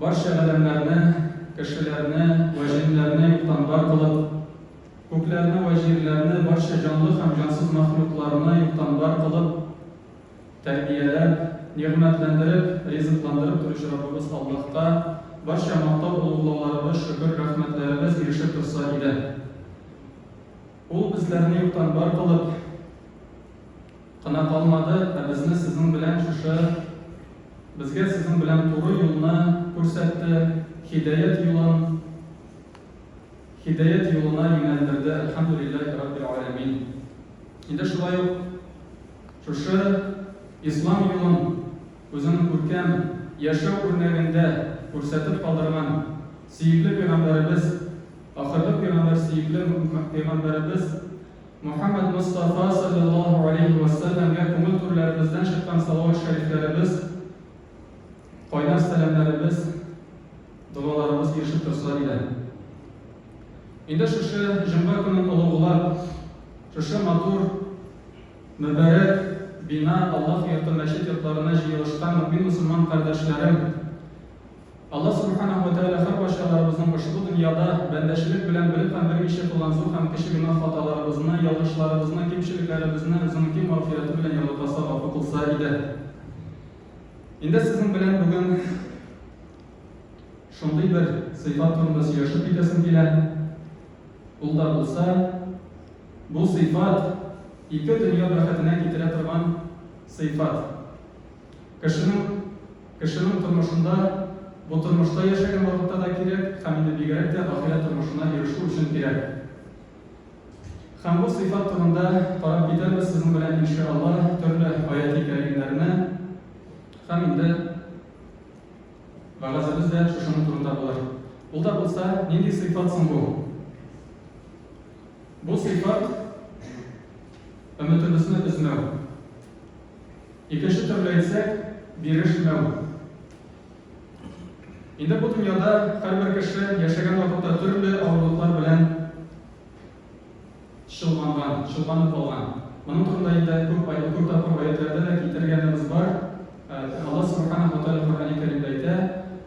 Барча адәмнәрне, кешеләрне вә җеннәрне юктан бар кылып, күкләрне вә җирләрне, барча җанлы һәм җансыз мәхлукларны юктан бар кылып, тәрбияләп, нигъмәтләндереп, ризыкландырып торучы Раббыбыз Аллаһка барча мактау-олуглауларыбыз, шөкер-рәхмәтләребез ирешеп торса иде. Ул безләрне юктан бар кылып, кына калмады, ә безне сезнең белән шушы безгә сезнең белән туры юлны күрсәтте, һидаят юлын һидаят юлына юнәлдерде, әлхәмдүлилләһи раббил галәмин. Инде шулай ук шушы ислам юлын үзенең күркәм яшәү үрнәгендә күрсәтеп калдырган сөекле пәйгамбәребез, ахырлык пәйгамбәр сөекле пәйгамбәребез Мөхәммәд Мостафа салләллаһу галәйһи вә сәлләмгә күңел түрләребездән чыккан салават шәрифләребез, кайнар сәламнәребез, догаларыбыз ирешеп торса диләр. Инде шушы җомга көнен олуглап, шушы матур, мөбарәк бина Аллаһ йорты мәчет йортларына җыелышкан мөмин-мөселман кардәшләрем, Аллаһ Сүбхәнәһү вә Тәгалә һәр барчаларыбызның ошбу дөньяда бәндәчелек белән бер һәм берничә кылган зур һәм кече гөнаһ хаталарыбызны, ялгышларыбызны, кимчелекләребезне Үзенең киң мәгъфирәте белән ярлыкаса, гафу кылса иде. Инде сезнең белән бүген шундый бер сыйфат турында сөйләшеп китәсем килә. Ул да булса, бу сыйфат ике дөнья бәхетенә китерә торган сыйфат. Кешенең, кешенең тормышында, бу тормышта яшәгән вакытта да кирәк һәм инде бигрәк тә ахирәт тормышына ирешү өчен кирәк. Һәм бу сыйфат турында карап китәрбез сезнең белән иншаалла төрле аяти кәримнәрне һәм инде вәгазебез дә шушының турында булыр. Ул да булса, нинди сыйфат соң бу? Бу сыйфат өметебезне өзмәү. Икенче төрле әйтсәк, бирешмәү. Инде бу дөньяда һәрбер кеше яшәгән вакытта төрле авырлыклар белән чолганган, чолганып алган. Моның турында инде күп ай, күп тапкыр аятьләрдә дә китергәнебез бар. Алла Субхана Хаталя Коръәни Кәримдә әйтә,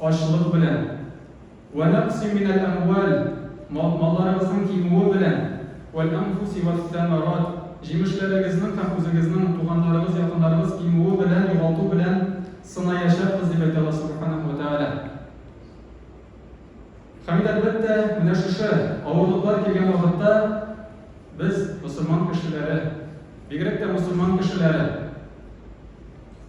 ачлык белән, Вә нәкъсин минәл әмвәл, мал-малларыгызның кимүе белән, вәл-әнфүси вәс-сәмәрат, җимешләрегезнең һәм үзегезнең, туганнарыгыз, якыннарыгыз кимүе белән, югалту белән сынаячакбыз, дип әйтә Аллаһ Сүбхәнәһү вә Тәгалә. Һәм инде, әлбәттә, менә шушы авырлыклар килгән вакытта без, мөселман кешеләре, бигрәк тә мөселман кешеләре,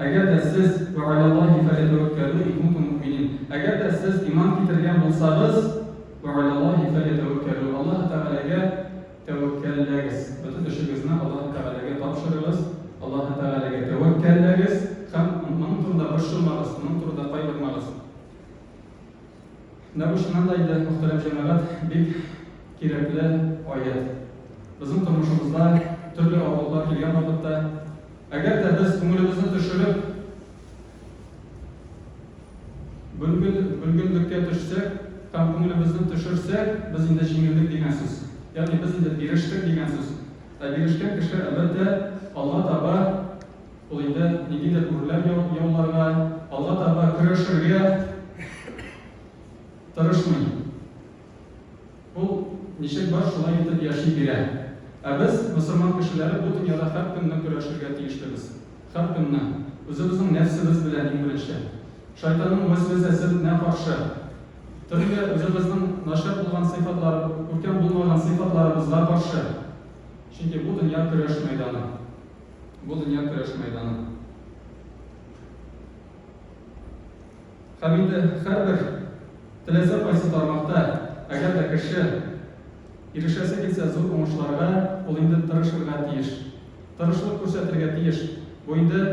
Әгәр дә сез, Вә аля Аллаһи фәлятәвәккәлү ин кунтум муэминин, әгәр дә сез иман китергән булсагыз, Вә аля Аллаһи фәлятәвәккәлү, Аллаһы Тәгаләгә тәвәккәлләгез, бөтен эшегезне Аллаһы Тәгаләгә тапшырыгыз, Аллаһы Тәгаләгә тәвәккәлләгез һәм Моның турында борчылмагыз, Моның турында кайгырмагыз. Менә бу чыннан да инде, мөхтәрәм җәмәгать, бик кирәкле аять. Безнең тормышыбызда төрле авырлыклар килгән вакытта, әгәр дә без күңелебезне төшереп, бөлгел, бөлгенлеккә төшсәк, там күңелебезне төшерсәк, без инде җиңелдек дигән сүз. Ягъни без инде бирештек дигән сүз. Ә бирешкән кеше, әлбәттә, алга таба Ул инде нинди дә гүрләр яуларга, алга таба көрәшергә тырышмый. Ул ничек бар, шулай итеп яши бирә. Ә без, мөселман кешеләре, бу дөньяда һәр көнне көрәшергә тиешлебез. Һәр көнне. Үзебезнең нәфсебез белән иң беренче. Шайтанның вәсвәсәсенә каршы. Төрле үзебезнең начар булган сыйфатлар, күркәм булмаган сыйфатларыбызга каршы. Чөнки бу дөнья көрәш мәйданы. Бу дөнья көрәш мәйданы. Һәм инде һәрбер теләсә кайсы тармакта, әгәр дә кеше ирешәсе килсә зур уңышларга, ул инде тырышырга тиеш. Тырышлык күрсәтергә тиеш. Бу инде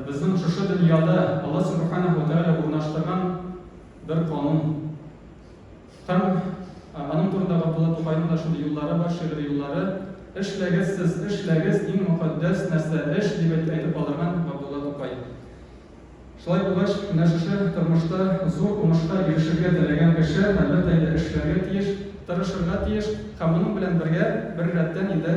безнең шушы дөньяда Алла Субхана һәү Тәгалә урнаштырган бер канун. Һәм аның турында Габдулла Тукайның да шундый юллары бар, шигъри юллары. Эшләгез сез, эшләгез, иң мокаддәс нәрсә эш, дип әйтеп калдырган Габдулла Тукай. Шулай булгач, менә шушы тормышта зур уңышка ирешергә теләгән кеше, әлбәттә инде, эшләргә тиеш, тырышырга тиеш һәм моның белән бергә, беррәттән инде,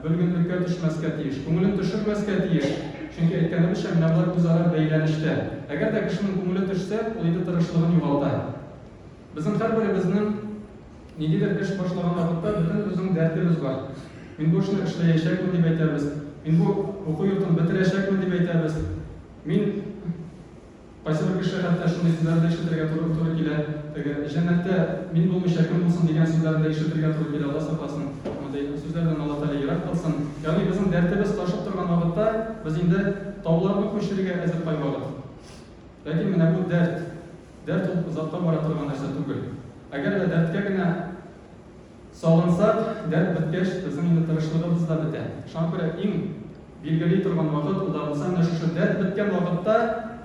Бөлгенлеккә төшмәскә тиеш. Күңелен төшермәскә тиеш. Чөнки, әйткәнебезчә, менә болар үзара бәйләнештә. Әгәр дә кешенең күңеле төшсә, ул инде тырышлыгын югалта. Безнең һәрберебезнең ниндидер эш башлаган вакытта бөтен үзенең дәртебез бар. Мин бу эшне эшләячәкмен, дип әйтәбез. Мин бу уку йортын бетерәчәкмен, дип әйтәбез. Мин. Кайсы бер кеше хәтта шундый сүзләрне дә ишетергә туры туры килә, теге, Җәннәттә мин булмыйча кем булсын дигән сүзләрне дә ишетергә туры килә, Алла сакласын, мондый сүзләрдән Алла Тәгалә ерак кылсын. Ягъни безнең дәртебез ташып торган вакытта без инде тауларны күчерергә әзер кайвакыт. Ләкин менә бу дәрт. Дәрт ул озакка бара торган нәрсә түгел. Әгәр дә дәрткә генә. Сагынсак, дәрт беткәч, безнең инде тырышлыгыбыз да бетә. Шуңа күрә иң билгели торган вакыт, ул да булса менә шушы дәрт беткән вакытта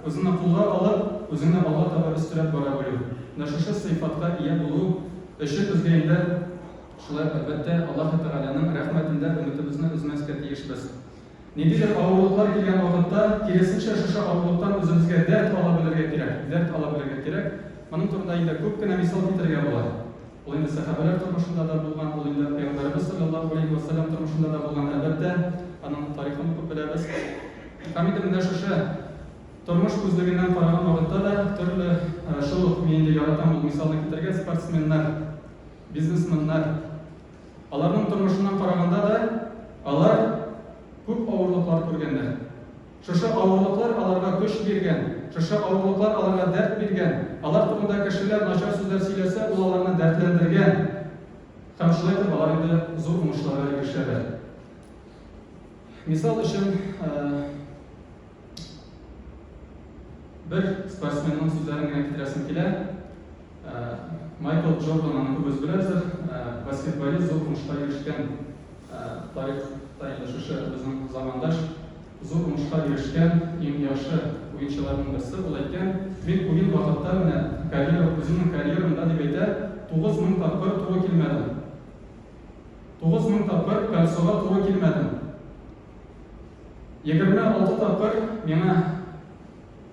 үзеңне кулга алып, үзеңне алга таба өстерәп бара белү. Менә шушы сыйфатка ия булу өчен безгә инде шулай ук, әлбәттә, Аллаһы Тәгаләнең рәхмәтен дә, өметебезне өзмәскә тиешбез. Ниндидер авырлыклар килгән вакытта, киресенчә, шушы авырлыктан үзебезгә дәрт ала белергә кирәк, дәрт ала белергә кирәк. Моның турында инде күп кенә мисал китерергә була. Ул инде сәхабәләр тормышында да булган, ул инде Пәйгамбәребез салләллаһу галәйһи вә сәлләм тормышында да булган, әлбәттә, аның тарихын укып беләбез. Һәм инде менә шушы тормыш күзлегеннән караган вакытта да төрле, шул ук, мин инде яратам ул мисалны китерергә, спортсменнар, бизнесменнар, Аларның тормышыннан караганда да, алар күп авырлыклар күргәннәр. Шушы авырлыклар аларга көч биргән, шушы авырлыклар аларга дәрт биргән, алар турында кешеләр начар сүзләр сөйләсә, ул аларны дәртләндергән һәм шулай итеп алар инде зур уңышларга ирешәләр. Мисал өчен, бер спортсменның сүзләрен генә китерәсем килә. Майкл Джордан аны күбез беләбездер. Баскетболист зур уңышка ирешкән тарихта инде шушы безнең замандаш зур уңышка ирешкән иң яхшы уенчыларның берсе. Ул әйткән, Мин уен вакытта менә карьера, үземнең карьерамда, дип әйтә, 9000 тапкыр туры килмәдем. 9000 тапкыр кольцога туры килмәдем. 26 тапкыр миңа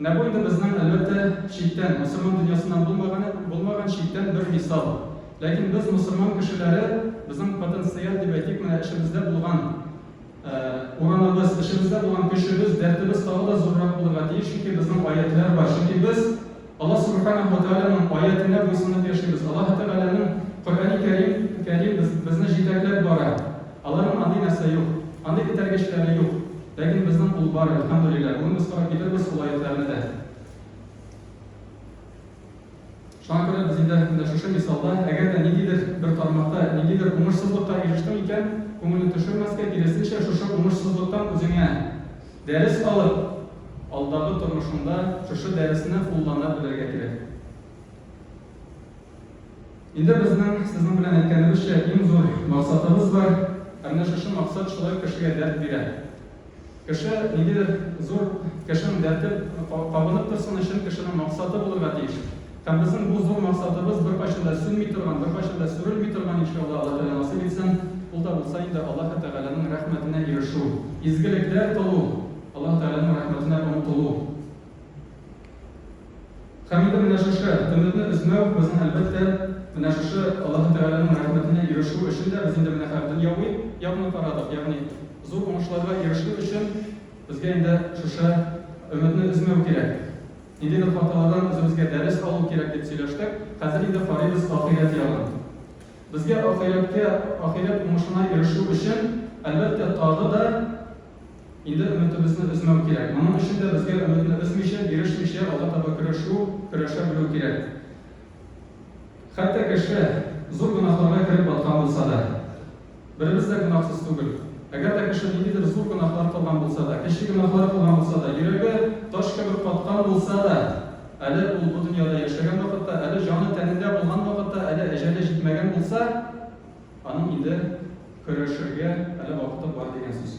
Менә бу инде безнең, әлбәттә, читтән, мөселман дөньясыннан булмаган, булмаган читтән бер мисал. Ләкин без, мөселман кешеләре, безнең потенциаль дип әйтик, менә эчебездә булган урамыбыз, эчебездә булган көчебез, дәртебез тагы да зуррак булырга тиеш, чөнки безнең аятьләр бар, чөнки без Аллаһ Сүбхәнәһү вә Тәгаләнең аятенә буйсынып яшибез. Аллаһы Тәгаләнең Коръәни Кәрим, Кәрим без, безне җитәкләп бара. Аларның андый нәрсә юк. Андый этәргечләре юк. Ләкин безнең ул бар, әлхәмдүлилләһ. Бүген без карап китербез ул аятьләрне дә. Шуңа күрә без инде менә шушы мисалда, әгәр дә ниндидер бер тармакта, ниндидер уңышсызлыкка ирештең икән, күңелне төшермәскә, киресенчә, шушы уңышсызлыктан үзеңә Дәрес алып, алдагы тормышыңда шушы дәресне куллана белергә кирәк. Инде безнең сезнең белән әйткәнебезчә, иң зур максатыбыз бар, ә менә шушы максат шулай кешегә дәрт бирә. Кеше ниндидер зур кешенең дәрте кабынып торсын өчен, кешенең максаты булырга тиеш. Һәм безнең бу зур максатыбыз беркайчан да сүнми торган, беркайчан да сүрелми торган, иншалла, Алла Тәгалә насыйп итсен, ул да булса инде Аллаһы Тәгаләнең рәхмәтенә ирешү, изгелекләр кылу, Аллаһы Тәгаләнең рәхмәтенә омтылу. Һәм инде менә шушы өметне өзмәү безнең, әлбәттә, менә шушы Аллаһы Тәгаләнең рәхмәтенә ирешү өчен дә без инде менә хәзер дөньяви якны карадык, ягъни зур уңышларга ирешү өчен безгә инде шушы өметне өзмәү кирәк. Инде бер хатыннардан үзебезгә дәрес алу кирәк дип сөйләштек, хәзер инде карыйбыз ахирәт ягын. Безгә ахирәткә, ахирәт уңышына ирешү өчен, әлбәттә, тагы да инде өметебезне өзмәү кирәк. Моның өчен дә безгә өметне өзмичә, бирешмичә алга таба көрәшү, көрәшә белү кирәк. Хәтта кеше зур гөнаһларга кереп баткан булса да. Беребез дә гөнаһсыз түгел. Әгәр дә кеше ниндидер зур гөнаһлар кылган булса да, кече гөнаһлар кылган булса да, йөрәге таш кебек каткан булса да, әле ул бу дөньяда яшәгән вакытта, әле җаны тәнендә булган вакытта, әле әҗәле җитмәгән булса, аның инде көрәшергә әле вакыты бар дигән сүз.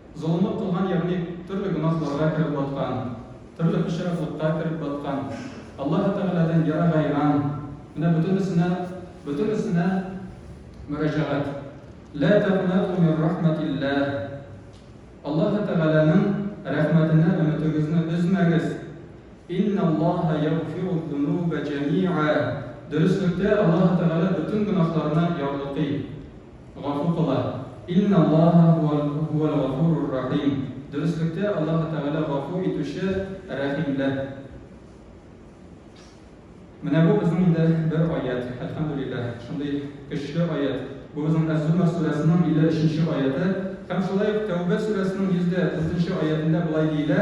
Золымлык кылган, ягъни төрле гөнаһларга кереп баткан, төрле пычраклыкка кереп баткан, Аллаһы Тәгаләдән ерагайган, менә бөтенесенә, бөтенесенә мөрәҗәгать. Лә тәкънәтү мин рәхмәтилләһ. Аллаһы Тәгаләнең рәхмәтенә өметегезне өзмәгез. Инналлаһа ягъфирудзунуба җәмиа. Дөреслектә, Аллаһы Тәгалә бөтен гөнаһларны ярлыкый. Гафу кыла. Инналлаһа һүәл-гафурур-рахим. Дөреслектә, Аллаһы Тәгалә гафу итүче, рәхим ле. Менә бу безнең инде бер аять, әлхәмдүлилләһ, шундый көчле аять. Бу безнең Әз-Зумәр сүрәсенең 53 нче аяты. Һәм шулай ук Тәүбә сүрәсенең 134 нче аятендә болай диелә,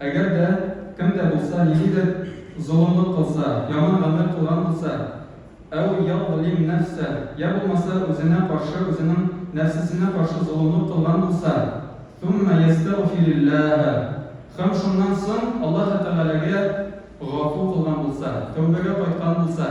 Әгәр дә кем дә булса ниндидер золымлык кылса, яман гамәл кылган булса, әү язлим нәфсә, йә булмаса үзенә каршы, үзенең нәфсесенә каршы золымлык кылган булса, сумма ястәгъфириллаһа, һәм шуннан соң Аллаһы Тәгаләгә гафу кылган булса, тәүбәгә кайткан булса.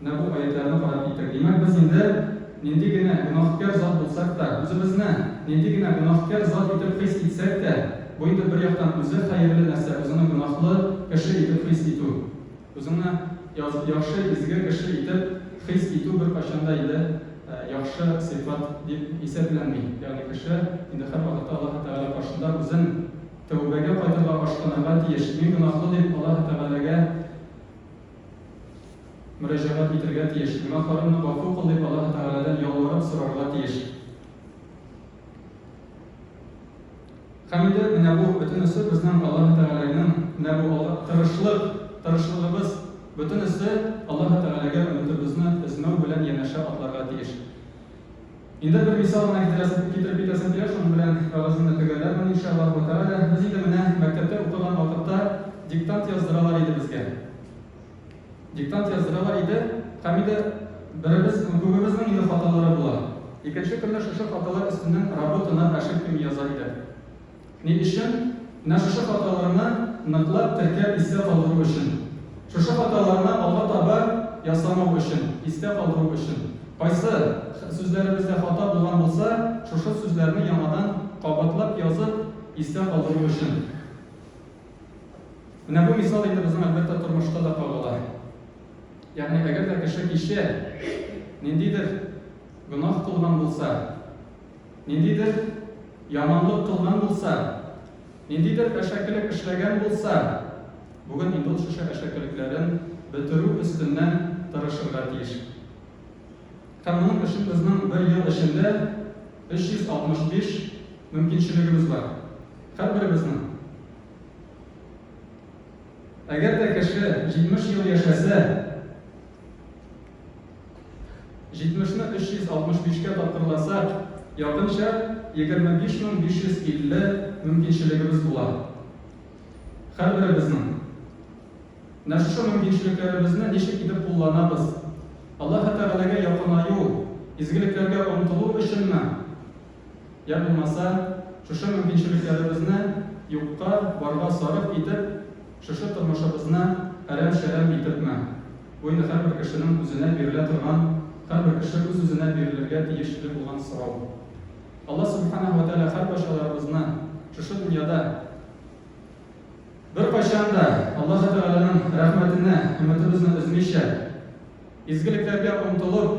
Менә бу аятьләрне карап киттек. Димәк, без инде нинди генә гөнаһкар зат булсак та, үзебезне нинди генә гөнаһкар зат итеп хис итсәк тә, бу инде бер яктан үзе хәерле нәрсә, үзеңне гөнаһлы кеше итеп хис итү. Үзеңне яхшы, изге кеше итеп хис итү беркайчан да инде яхшы сыйфат дип исәпләнми. Ягъни кеше инде һәрвакытта Аллаһы Тәгалә каршында үзен тәүбәгә кайтырга, ашкынырга тиеш. Мин гөнаһлы дип Аллаһы Тәгаләгә мөрәҗәгать итәргә тиеш, гөнаһларымны гафу кыл дип Аллаһы Тәгаләдән ялварып сорарга тиеш. Һәм инде менә бу бөтенесе безнең Аллаһы Тәгаләнең менә бу алда тырышлык, тырышлыгыбыз бөтенесе Аллаһы Тәгаләгә өметебезне өзмәү белән янәшә атларга тиеш. Инде бер мисал гына китерәсем, китереп китәсем килә, шуның белән вәгаземне төгәлләрмен, иншааллаһу вә тәгалә. Без инде менә мәктәптә укыган вакытта диктант яздыралар иде безгә. Диктант яздыралар иде һәм инде беребез, күбебезнең инде хаталары була. Икенче көнне шушы хаталар өстеннән работаны, ошибками яза идек. Ни өчен? Менә шушы хаталарны ныклап теркәп истә калдыру өчен. Шушы хаталарны алга таба ясамау өчен, истә калдыру өчен. Кайсы сүзләребездә хата булган булса, шушы сүзләрне яңадан кабатлап язып, истә калдыру өчен. Менә бу мисал инде безнең, әлбәттә, тормышта да кагыла. Ягъни, әгәр дә кеше кичә ниндидер гөнаһ кылган булса, ниндидер яманлык кылган булса, ниндидер әшәкелек эшләгән булса, бүген инде ул шушы әшәкелекләрен бетерү өстеннән тырышырга тиеш. Һәм моның өчен безнең бер ел эчендә 365 мөмкинчелегебез бар. Һәрберебезнең. Әгәр дә кеше 70 ел яшәсә, Җитмешне 365-кә тапкырласак, якынча 25550 мөмкинчелегебез була. Һәрберебезнең. Менә шушы мөмкинчелекләребезне ничек итеп кулланабыз? Аллаһы Тәгаләгә якынаю, изгелекләргә омтылу өченме? Йә булмаса, шушы мөмкинчелекләребезне юкка барга сарыф итеп, шушы тормышыбызны әрәм-шәрәм итепме? Бу инде һәрбер кешенең үзенә бирелә торган, һәрбер кеше үз-үзенә бирелергә тиешле булган сорау. Алла Сүбхәнәһү вә Тәгалә һәркайчаларыбызны шушы дөньяда, беркайчан да Аллаһы Тәгаләнең рәхмәтенә өметебезне өзмичә, изгелекләргә омтылып,